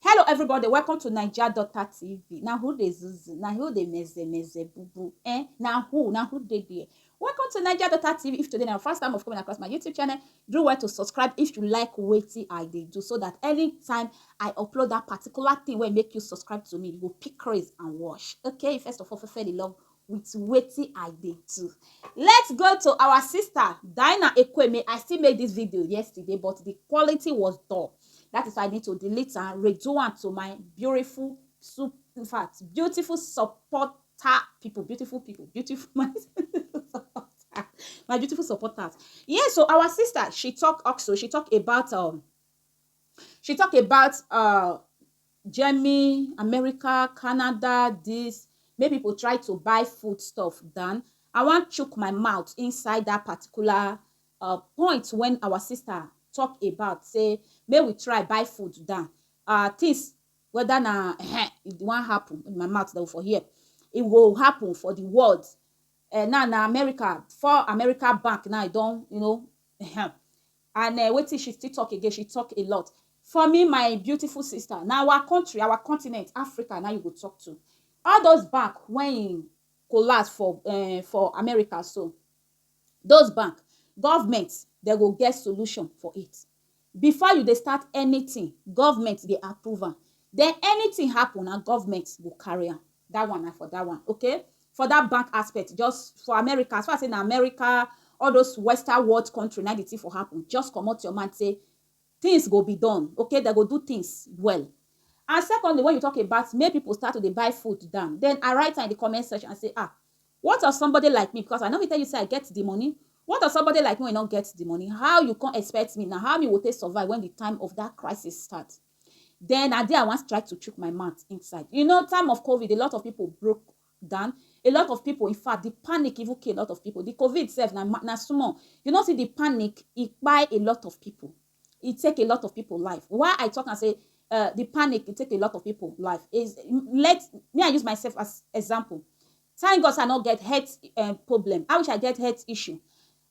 Hello everybody, welcome to Naija Daughter TV. Na who dey zuzu, na who dey meze meze bubu, eh? Na who, na who dey there? Welcome to Naija Daughter TV. If today na your first time of coming across my YouTube channel, do well to subscribe if you like wetin I dey do so that anytime I upload that particular thing wey make you subscribe to me, you go pick craze and watch. Okay, first of all, fefeli love with wetin I dey do. Let's go to our sister Dinah Ekweme. I still made this video yesterday, but the quality was dull. That is why I need to delete and redo am to my beautiful, sup- in fact, beautiful supporter people, beautiful people, beautiful my supporter, my beautiful supporters. Yeah, so our sister, she talk also, she talk about um, she talk about uh Germany, America, Canada, this, make people try to buy food stuff than I wan chook my mouth inside that particular uh, point when our sister talk about say may we try buy food down. Uh, things whether na eh, it won't happen in my mouth though for here. It will happen for the world. Uh, now na America for America bank now I don't you know eh, And eh wetin she still talk again, she talk a lot. For me my beautiful sister, na our country, our continent, Africa na you go talk to. All those bank when e collapse for eh for America so, those bank, government dem go get solution for it. Before you dey start anything, government dey approve am. Then anything happen, na government go carry am. that one na for that one okay for that bank aspect just for america as far as say na america all those western world country na the thing for happen just comot your mind say things go be done okay they go do things well and secondly when you talk about make people start to dey buy food down then i write am in the comment section and say ah what of somebody like me because i no fit tell you say i get the money what of somebody like me wey no get the money how you come expect me na how me go take survive when the time of that crisis start Then na there I wan try to chook my mouth inside. You know, time of COVID, a lot of people broke down. A lot of people, in fact, the panic even killed a lot of people. The COVID itself, na, na small. You know, see the panic, it buy a lot of people. It take a lot of people life. Why I talk and say uh, the panic, it take a lot of people life. Is let me I use myself as example. Thank God I not get health uh, problem. I wish I get health issue.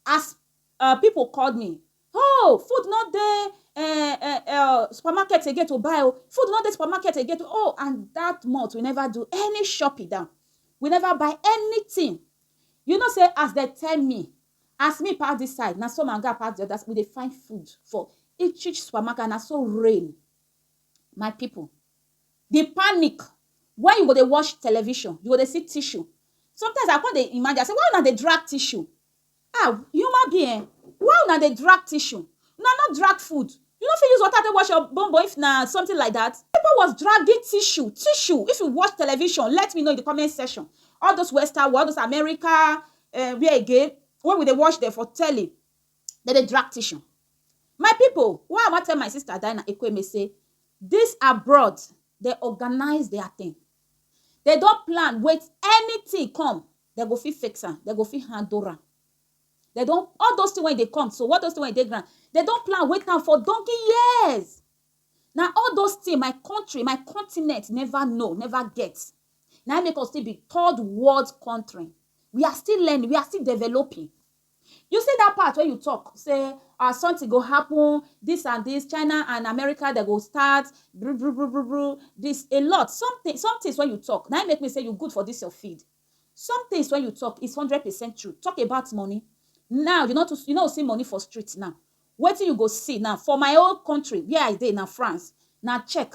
As uh, people called me, Hoo! Food no dey eh eh eh supermarket again to buy o, food no dey supermarket again to oh and that month we never do any shopping down, we never buy anything. You know say as dem tell me, as me pass this side na so my oga pass the other side, we dey find food for each each supermarket and na so rain. My people, the panic when you go dey watch television, you go dey see tissue. Sometimes I come dey imagine, I say why una dey drag tissue? Ah human being eh, why una dey drag tissue? Una no drag food? You no fit use water take wash your bon bon if na something like that? People was dragging tissue, tissue, if you watch television let me know in the comment section, all those western world, all those America, um where again, when we dey watch them for telly, dem dey drag tissue. My people, why I wan tell my sister Dinah Ekwueme say this abroad, dem organize their thing, dem don plan wait anything come Dem go fit fix am, dem go fit handle am. Dem don, all those things wey e dey come so, all those things wey e dey ground, dem don plan, wait am for donkey years. Na all those things my country, my continent never know, never get. Na im make us still be third world country. We are still learning, we are still developing. You see that part wey you talk say uh, something go happen, this and this, China and America, they go start, bru bru bru bru bru, this, a lot. Something, some things when you talk, now make me say you good for this your feed. Some things when you talk is 100% true. Talk about money. Now, you know, to, you know, see money for streets now. What do you go see now? For my own country, where I did now, France, now check.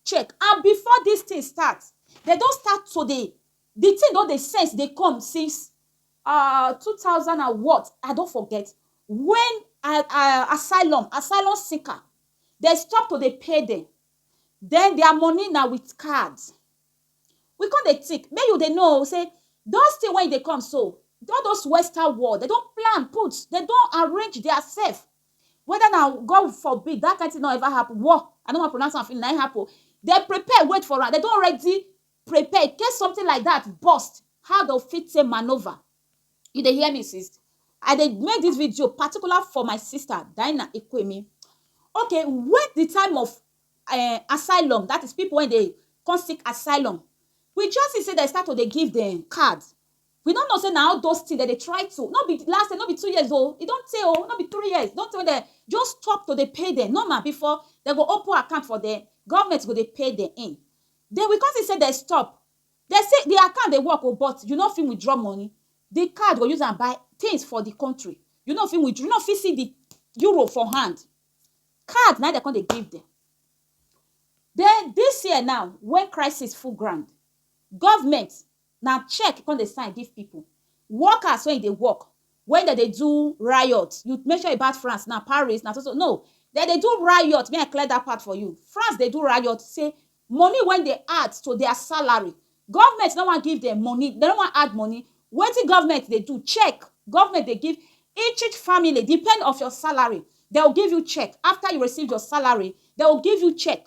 Check. And before this thing starts, they don't start today. The thing don't they sense they come since ah two thousand and what i don forget when ah, ah, asylum asylum seeker dem stop to dey pay dem then their money na with card we come dey think make you dey know say those things wey dey come so all those western world dem don plan put dem don arrange their self whether na god forbid that kind thing no ever happen war i no wan pronounce am finish na im happen dem prepare wait for am dem don ready prepare in case something like that burst how dey go fit take manoeuvre you dey hear me sis I dey make this video particular for my sister Dinah Ikwemi okay when the time of um asylum that is people wey dey come seek asylum we just see say dem start to dey give dem card we no know say na all those things dem dey try to no be last year no be two years o e don tey o no be three years don tey wey dem just stop to dey pay dem normal before dem go open account for dem government go dey pay dem in Then we come see say dem stop. Dem say the account dey work o but you no fit withdraw money. The card go use am buy things for the country. You no fit withdraw, you no fit see the euro for hand. Card na im dem come dey give dem. Then this year now wey crisis full ground, government na check e come dey sign give people. Workers wey e dey work, when dem dey do riot, you make sure about France now, Paris na so so, no, dem dey do riot, make I clear that part for you, France dey do riot say money wey dey add to their salary, government no wan give dem money, dem no wan add money, wetin government dey do, check, government dey give each each family, depend of your salary, dem go give you check, after you receive your salary, dem go give you check,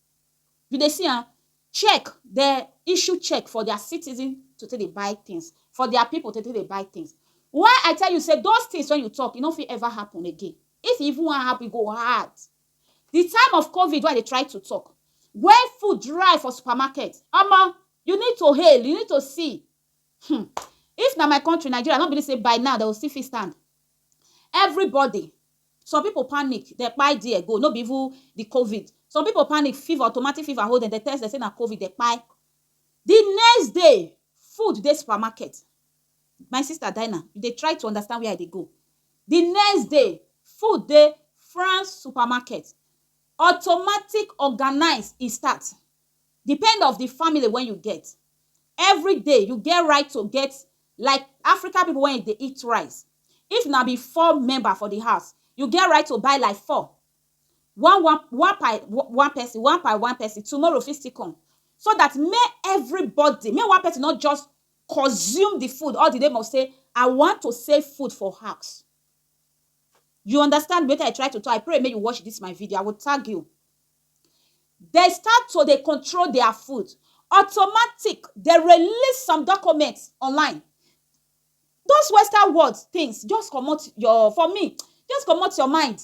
You dey see am? Check, dem issue check for dia citizen to take dey buy tins, for dia pipu to take dey buy tins. Why I tell you sey those tins wey you talk, e no fit ever happen again. If e even wan happen, e go hard. Di time of Covid wey I dey try to talk, wen food dry for supermarket, omo! You need to hail, you need to see. um If na my country, Nigeria, I no believe sey by now, dem go still fit stand. Everybody Some pipo panic, dem kpai there go, no be even di covid. Some pipo panic, fever, automatic fever hold dem, dem test dem say na covid, dem kpai. Di next day, food dey supermarket. My sister Dinah, you dey try to understand where I dey go. Di next day, food dey France supermarket. Automatic organise e start. Depend of di family wey you get, every day you get right to get like African pipu wey dey eat rice, if na be four member for di house, you get right to buy like four, one one one per one person, one per one person, tomorrow fit still come so dat make everybody, make one person nor just consume di food all di name of sey I want to save food for house. You understand wetin I try to talk, I pray make you watch dis my video, I go tag you. dem start to dey control their food automatic dem release some document online those western world things just comot your for me just comot your mind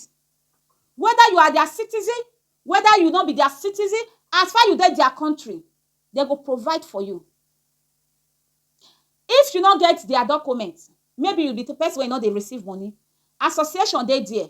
whether you are their citizen whether you no be their citizen as far you dey their country dem go provide for you if you no get their document maybe you be person wey no dey receive money association dey there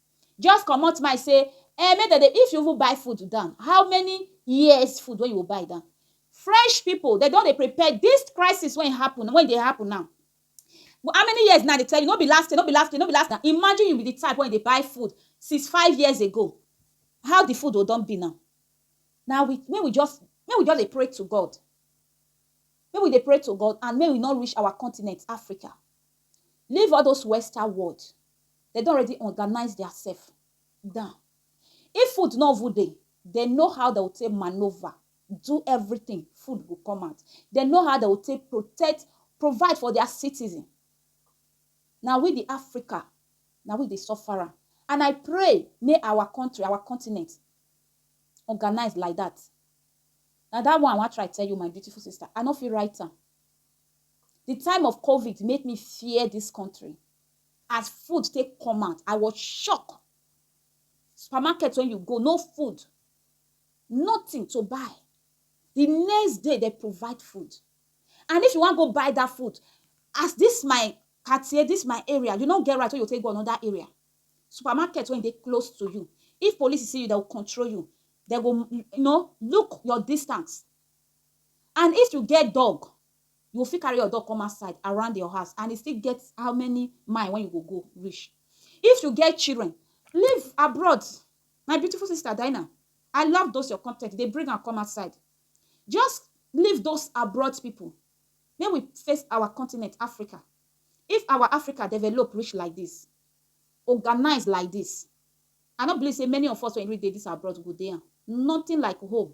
Just comot mind sey um make dem dey, if you even buy food down, how many years food wey you go buy down? French pipu, de don dey prepare dis crisis wey happen, wey dey happen now, how many years now? I dey tell you, no be last year, no be last year, no be last year. Imagine you be the type wey dey buy food since five years ago, how the food go don be now? Na we, make we just, make we just dey pray to God. Make we dey pray to God and make we no reach our continent, Africa. Leave all those western world, dem don already organize their self down. If food no even dey, dem know how dem go take manoeuvre, do everything, food go come out. Dem know how dem go take protect, provide for their citizen. Na we the Africa, na we dey suffer am. And I pray make our country, our continent organize like that. Na that one I wan try tell you my beautiful sister, I no fit write am. The time of covid make me fear this country as food take come out I was shock supermarket when you go no food nothing to buy the next day they provide food and if you wan go buy that food as this my Cartier this my area you no get right wey you take go another area supermarket wey dey close to you if police see you they will control you they go you know look your distance And if you get dog, you go fit carry your dog come outside around your house and e still get how many mile when you go go reach. If you get children, live abroad. My beautiful sister Dinah, I love those your content. They bring and come outside. Just leave those abroad people. May we face our continent, Africa. If our Africa develop rich like this, organized like this, I don't believe say many of us when we did this abroad go there. Nothing like home.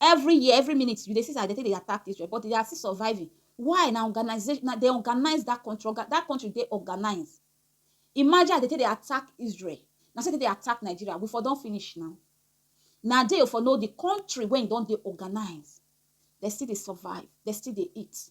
Every year, every minute, you dey see as dem take dey attack Israel, but they are still surviving. Why? Na organization, na dem organize that country. Oga, that country dey organize. Imagine as dem take dey attack Israel, na so dem take dey attack Nigeria. We for don finish now. Na there you for know the country wey e don dey organize. Dem still dey survive, dem still dey eat.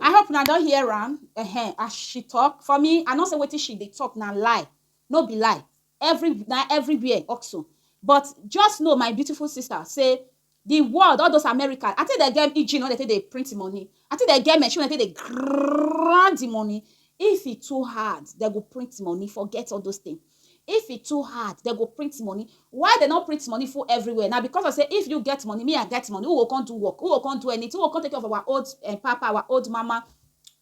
i hope una don hear am uh-huh, as she talk for me i know say wetin she dey talk na lie no be lie every na everywhere also but just know my beautiful sister say the world all those america i think they get engine wey they take dey print money i think they get machine wey they take dey grind the money if e too hard they go print money forget all those things If e too hard, dem go print money. Why dem no print money full everywhere? Na because of say if you get money, me I get money, who go come do work? Who go come do anything? Who go come take care of our old um papa, our old mama?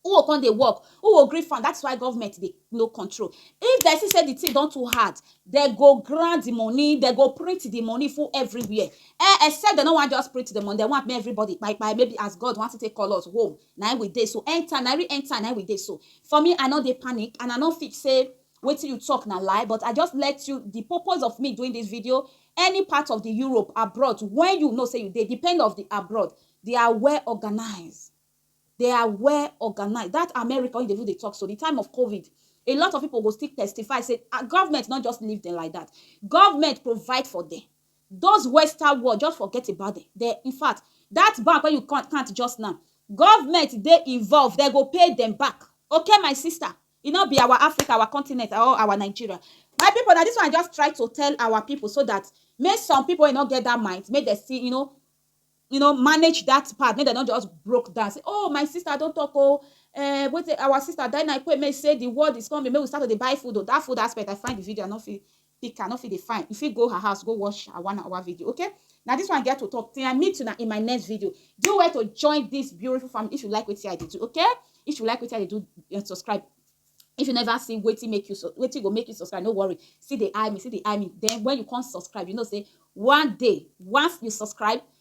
Who go come dey work? Who go gree fund? That is why government dey no control. If dem see say the thing don too hard, dem go grant the money, dem go print the money full everywhere. Eh, except dem no wan just print the money, dem want make everybody kpai kpai, maybe as God wan take call us home, na im we dey so. Enter, na re-enter na im we dey so. For me, I no dey panic and I no fit say Wetin you talk na lie but I just let you the purpose of me doing this video any part of the Europe abroad when you know say you dey depend of the abroad they are well organized they are well organized that America wey you dey even dey talk so the time of covid a lot of people go still testify say ah, government not just leave them like that government provide for them those western world just forget about them they in fact that bank wey you can't just now government dey involved they go pay them back okay my sister E no be our Africa, our continent or our Nigeria. My people na this one I just try to tell our people so that make some people wey no get that mind make dem still you know you know manage that part make dem no just broke down say oh my sister don talk oh uh, wait our sister Dinah Ikwe make say the world is coming make we start to dey buy food oh that food aspect I find the video I no fit pick her no fit dey fine you fit go her house go watch her one hour video okay na this one get to talk till i meet una in my next video do well to join this beautiful family if you like wetin i dey do okay if you like wetin i dey do eh, subscribe if you never see wetin make you so wetin go make you subscribe no worry see the eye me see the eye me then when you come subscribe you know say one day once you subscribe